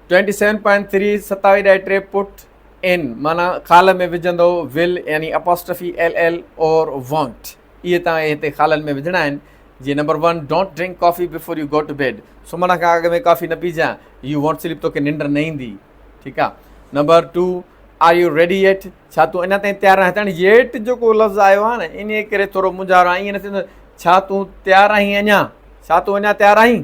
27.3 ستاوي ڏائي ٽي پٽ ان معنيٰ خال ۾ وجهندو ول يعني apostrophe L L or won't اهي توهان کي هتي خالن ۾ وجهڻا آهن جي number one don't drink coffee before you go to bed سمهڻ کان اڳ ۾ ڪافي نه پيجان يو وانٽ سليپ توکي ننڊ نه ايندي ٺيڪ آهي number two are you ready yet ڇا تون اڃا تائين تيار آهين هاڻي ايٽ جيڪو لفظ آيو آهي نه ان ڪري ٿورو مونجهارو آهي ائين نه ٿيندو ڇا تون تيار آهين اڃا ڇا تون اڃا تيار آهين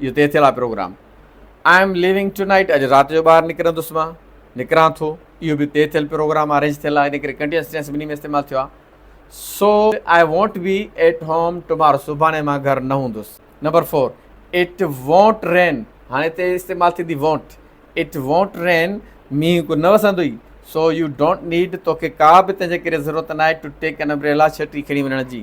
اهو طئي ٿيل آهي programme. I'm leaving tonight اڄ رات جو ٻاهر نڪرندس مان نڪران ٿو اهو به طئي ٿيل پروگرام ارينج ٿيل آهي ان ڪري ڪنٽينيوس ٽينس ٻنهي ۾ استعمال ٿيو آهي so I won't be at home tomorrow سڀاڻي مان گهر نه هوندس number four it won't rain هاڻي هتي استعمال ٿيندي وونٽ اٽ وونٽ رين مينهن ڪو نه وسندو ئي سو يو ڊونٽ نيڊ توکي ڪا به تنهنجي ڪري ضرورت ناهي ٽو ٽيڪ اين امبريلا ڇٽي کڻي وڃڻ جي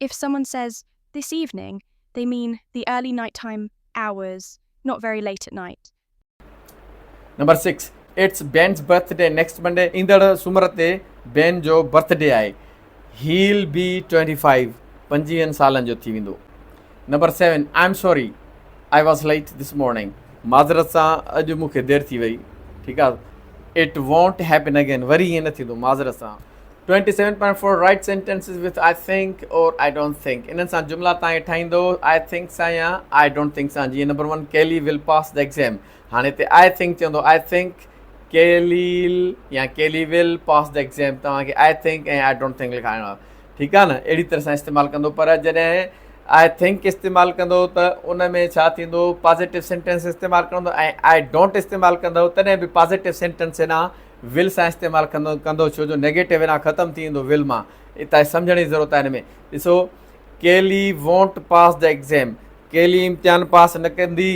If someone says this evening they mean the early night-time hours, not very late at night. Number six it's Ben's birthday next Monday ايندڙ سومر تي بين جو برٿ ڊي آهي he'll be twenty five پنجويهن سالن جو ٿي ويندو number seven I'm sorry I was late this morning معذرت سان اڄ مون کي دير ٿي وئي ٺيڪ آهي اٽ وونٽ هيپن اگين وري ائين نه ٿيندو معذرت سان twenty seven point four write sentences with I think or I don't think انهن سان جملا تائين ٺاهيندو آء ٿنڪ سان يا آء ڊونٽ ٿنڪ سان جيئن number one Kele will pass the exam هاڻي هتي آء ٿنڪ چوندو آء ٿنڪ ڪيليل يا ڪيلي ول پاس دي ايگزيم توهان کي I think ۽ I don't think لکائڻو آهي ٺيڪ آهي نه اهڙي طرح سان استعمال ڪندو پر جڏهن آء ٿنڪ استعمال ڪندو ته ان ۾ ڇا ٿيندو پازيٽو سينٽينس استعمال ڪندو ۽ آء ڊونٽ استعمال ڪندو تڏهن به پازيٽو سينٽينس ڏانهن ول سان استعمال ڪندو ڪندو ڇو جو نيگيٽو انا ختم ٿي ويندو ول مان اتان هي سمجهڻ جي ضرورت آهي هن ۾ ڏسو ڪيلي وونٽ پاس دي ايگزيم ڪيلي امتحان پاس نه ڪندي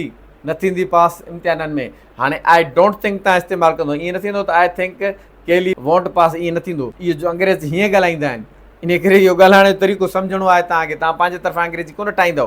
نه ٿيندي پاس امتحانن ۾ هاڻي آء ڊونٽ ٿنڪ تان استعمال ڪندو ائين نه ٿيندو ته آء ٿنڪ ڪيلي وونٽ پاس ائين نه ٿيندو اهو جو انگريز هيئن ڳالهائيندا آهن ان ڪري اهو ڳالهائڻ جو طريقو سمجهڻو آهي تان کي تان پنهنجي طرفان انگريزي ڪونه ٺاهيندو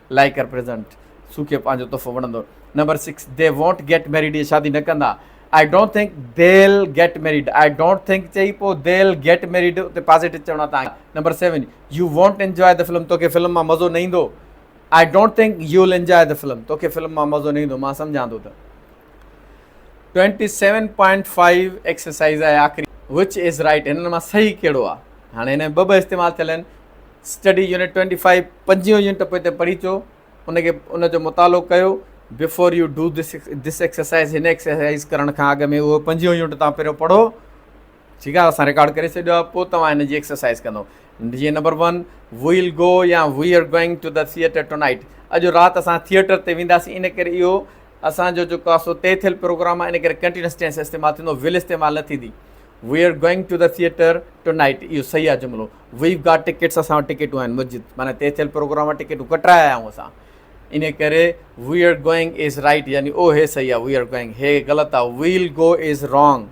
لائيڪ ڪر پريزنٽ سوکي پنهنجو تحفو وڻندو number six they won't get married اهي شادي نه ڪندا I don't think they'll get married I don't think چئي پو ديل گيٽ ميريڊ اتي پازيٽو چوڻو آهي تانکي number seven you won't enjoy the film توکي فلم مان مزو نه ايندو I don't think you will enjoy the film توکي فلم مان مزو نه ايندو مان سمجهان ٿو ته twenty seven point five exercise آهي آخري وچ از رائٽ هنن مان صحيح ڪهڙو آ هاڻي هن ۾ ٻه ٻه استعمال ٿيل آهن اسٽڊي يونٽ ٽوئنٽي فائيو پنجيون يونٽ پوء تي پڙهي چو ان کي ان جو مطالعو ڪيو before you do this this exercise هن ايڪسرسائز ڪرڻ کان اڳ ۾ اهو پنجيون يونٽ تان پهريو پڙهو ٺيڪ آهي اسان رڪارڊ ڪري ڇڏيو آهي پوء توهان هن جي ايڪسرسائز ڪندو جيئن نمبر ون ويل گو يا we are going to the theatre tonight اڄ رات اسان ٿيئٽر تي وينداسين ان ڪري اهو اسان جو جيڪو آسو طئي ٿيل پروگرام آهي ان ڪري ڪنٽينس ٽينس استعمال ٿيندو ويل استعمال نه ٿيندي we are going to the theatre tonight اهو صحيح آهي جملو وي گاٽ ٽڪيٽس اسان وٽ ٽڪيٽون آهن مسجد معنی طئي ٿيل پروگرام وٽ ٽڪيٽون ڪٽرايا آهيون اسان ان ڪري we are going is right يعني او هي صحيح آهي وي آر گوئنگ هي غلط آهي we'll go is wrong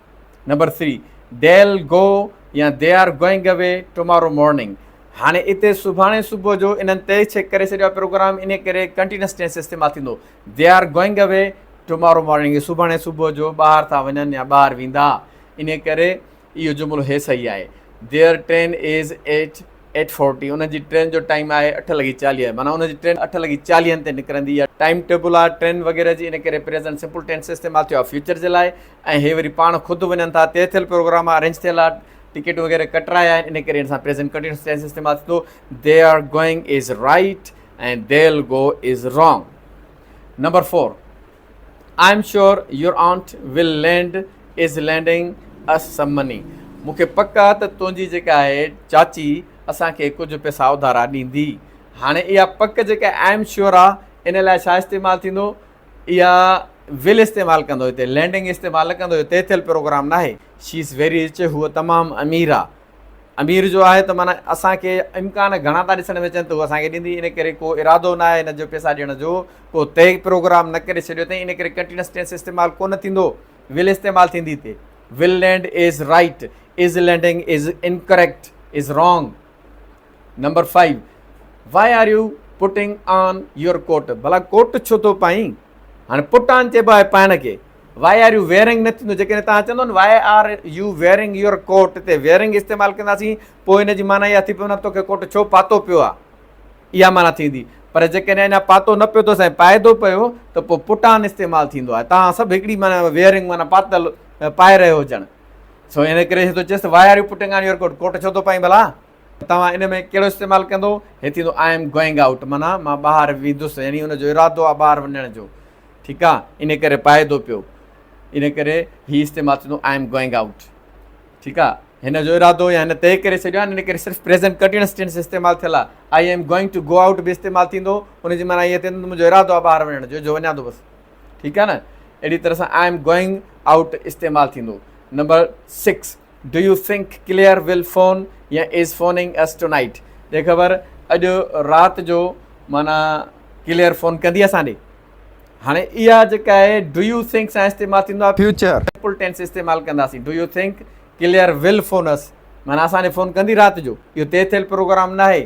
number three Del Go يا They Are Going Away Tomorrow Morning هاڻي اتي سڀاڻي صبح جو انهن طئي ڇڪ ڪري ڇڏيو آهي پروگرام انهي ڪري ڪنٽينس ٽينس استعمال ٿيندو They Are Going Away Tomorrow Morning سڀاڻي صبح جو ٻاهر ٿا وڃن يا ٻاهر ويندا انهي ڪري اهو جملو هي صحيح آهي Their train is at eight forty ان جي ٽرين جو ٽائيم آهي اٺ لڳي چاليهه معنيٰ ان جي ٽرين اٺ لڳي چاليهن تي نڪرندي اها ٽائيم ٽيبل آهي ٽرين وغيره جي ان ڪري پريزنٽ سمپل ٽينس استعمال ٿيو آهي فيوچر جي لاء ۽ هي وري پاڻ خود وڃن ٿا طئي ٿيل پروگرام آهي ارينج ٿيل آهي ٽڪيٽون وغيره ڪٽرايا آهن ان ڪري ان سان پريزنٽ ڪنٽينيوس ٽينس استعمال ٿيندو they are going is right ۽ they'll go is wrong number four I am sure your aunt will land is lending us some money مون کي پڪ آ ته تنهنجي جيڪا آهي چاچي اسان کي ڪجهه پئسا اڌارا ڏيندي. هاڻي اها پڪ جيڪا آئي ايم شيور آ ان لاء ڇا استعمال ٿيندو؟ اها ول استعمال ڪندو هتي لينڊنگ استعمال نه ڪندو اهو طئي ٿيل پروگرام ناهي. شي از ويري رچ هوء تمام امير آ. امير جو آهي ته معنيٰ اسان کي امڪان گهڻا ٿا ڏسڻ ۾ اچن ته هو اسان کي ڏيندي ان ڪري ڪو ارادو ناهي هن جو پيسا ڏيڻ جو ڪو طئي پروگرام نه ڪري ڇڏيو اٿئي ان ڪري ڪنٽينس ٽينس استعمال ڪونه ٿيندو ول استعمال ٿيندي تي will land is right is landing is incorrect is wrong number five why are you putting on your coat ڀلا ڪوٽ ڇو ٿو پائين هاڻي پٽ آن چئبو آهي پائڻ کي Why are you wearing نه ٿيندو جيڪڏهن توهان چوندو نه Why are you wearing your coat تي wearing استعمال ڪنداسين پوء ان جي معنيٰ اها ٿي پوي نه توکي ڪوٽ ڇو پاتو پيو آهي اها معنيٰ ٿيندي پر جيڪڏهن اڃا پاتو نه پيو اٿو سائين پائدو پيو ته پوء پٽان استعمال ٿيندو آهي توهان سڀ هڪڙي معنيٰ ويئرنگ معنيٰ پاتل پائي رهيو هجڻ سو ان ڪري ٿو چيس why are you putting on your coat coat ڇو ٿو پائين ڀلا توهان ان ۾ ڪهڙو استعمال ڪندو هي ٿيندو آء ايم گوئنگ آؤٽ معنيٰ مان ٻاهر ويندس يعني ان جو ارادو آهي ٻاهر وڃڻ جو ٺيڪ آ ان ڪري پائي ٿو پيو ان ڪري هي استعمال ٿيندو آئي ايم گوئنگ آئوٽ ٺيڪ آ هن جو ارادو يا هن طئي ڪري ڇڏيو آ ان ڪري صرف پريزنٽ ڪنٽينيوس ٽينس استعمال ٿيل آ I am going to go out به استعمال ٿيندو ان جي معنيٰ هيء ٿيندو ته منهنجو ارادو آ ٻاهر وڃڻ جو جو وڃان ٿو بس ٺيڪ آ نه اهڙي طرح سان آئي ايم گوئنگ آئوٽ استعمال ٿيندو number six do you think Claire will phone يا is phoning us tonight ڏي خبر اڄ رات جو مانا ڪليئر فون ڪندي اسان ڏي هاڻي اها جيڪا آهي ڊو يو ٿنڪ سان استعمال ٿيندو آهي فيوچر سمپل ٽينس استعمال ڪنداسين do you think Claire will phone us مانا اسان ڏي فون ڪندي رات جو اهو طئي ٿيل پروگرام ناهي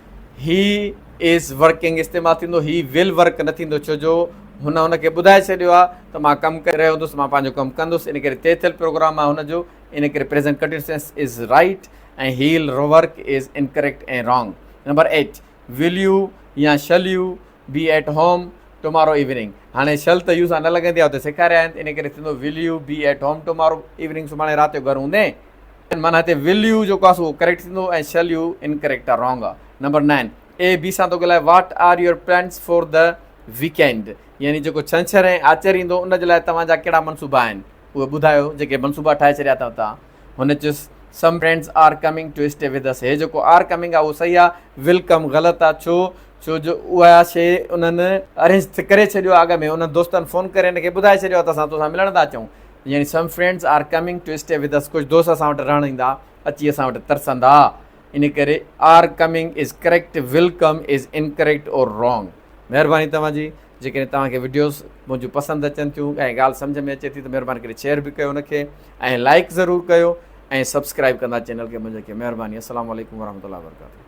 هي از ورڪنگ استعمال ٿيندو هي ول ورڪ نه ٿيندو ڇو جو هن هن کي ٻڌائي ڇڏيو آهي ته مان ڪم ڪري رهيو هوندس مان پنهنجو ڪم ڪندس ان ڪري طئي ٿيل پروگرام آهي هن جو ان ڪري present continuous tense is right ۽ he'll work is incorrect ۽ wrong number eight will you يا shall you be at home tomorrow evening هاڻي شل ته يو سان نه لڳندي آهي اتي سيکاريائين ان ڪري ٿيندو will you be at home tomorrow evening سڀاڻي رات جو گهر هوندين معنيٰ هتي ول يو جيڪو آهي اهو ڪريڪٽ ٿيندو ۽ شل يو انڪريڪٽ آهي، رانگ آهي. نمبر نائن، اي بي سان ٿو ڳالهائي، what are your plans for the weekend? يعني جيڪو ڇنڇر ۽ آچر ايندو ان جي لاء توهان جا ڪهڙا منصوبا آهن اهي ٻڌايو، جيڪي منصوبا ٺاهي ڇڏيا اٿئو توهان. هن چيس، some friends are coming to stay with us. هي جيڪو آر ڪمنگ آهي اهو صحيح آهي، ول ڪم غلط آهي، ڇو؟ ڇو جو اها شيء انهن ارينج ڪري ڇڏيو آهي اڳ ۾، انهن دوستن فون ڪري هن کي ٻڌائي ڇڏيو آهي ته اسان توسان ملڻ ٿا اچون. يعني some friends are coming to stay with us ڪجهه دوست اسان وٽ رهڻ ايندا اچي اسان وٽ ترسندا ان ڪري are coming is correct will come is incorrect or wrong مهرباني توهان جي جيڪڏهن توهان کي وڊيوز منهنجون پسند اچن ٿيون ۽ ڳالهه سمجهه ۾ اچي ٿي ته مهرباني ڪري شيئر به ڪيو ان کي ۽ لائڪ ضرور ڪيو ۽ سبسڪرائب ڪندا چينل کي منهنجي کي مهرباني السلام عليڪم ورحمة الله وبرڪاته.